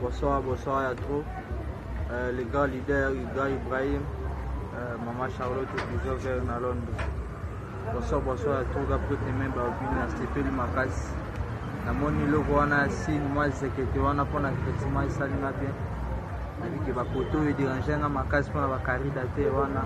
Bonsoir, bonsoir ya trop. Euh, le grand leader Iga Ibrahim, euh, Maman Charlotte Bizo vers na Londres. Bonsoir, bonsoir ya trop ga peut même ba bini na sepeli makasi. Na moni logo wana ya signe moi zekete wana pona effectivement esali na bien. Nabi ke ba poteaux e déranger nga makasi pona ba carida te wana.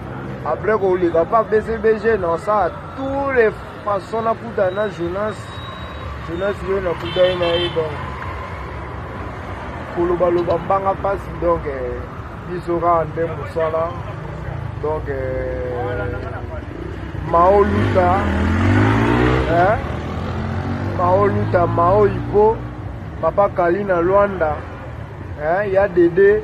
Après koleka pa BCBG na sa tous les façons na kuta na Jonas Jonas yo na kuta ye na ye donc koloba loba mbanga pasi donc eh, biso kaka nde mosala donc eh, mao luta eh? mao luta mao ipo papa kali na Luanda eh? ya dede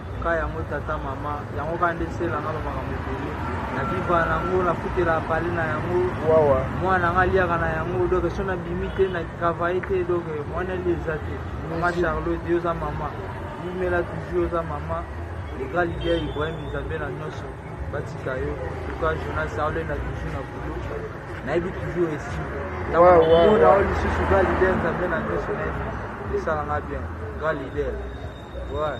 ka yango tata mama yango ka nde sela nga bamakambo ebele na viva na yango nafutela pale na yango wawa mwana nga aliaka na yango donc so nabimi te na travaille te donc mwana li eza te mama charlotte yo oza mama mumela toujours oza mama ega lilia ibrahim nzambe na nyonso batika yo tuka jonas aolenda toujours na boulot nayebi toujours esi ntangoona o lisusu ga lider nzambe na nyonso nayebi esala nga bien ga lider ouais.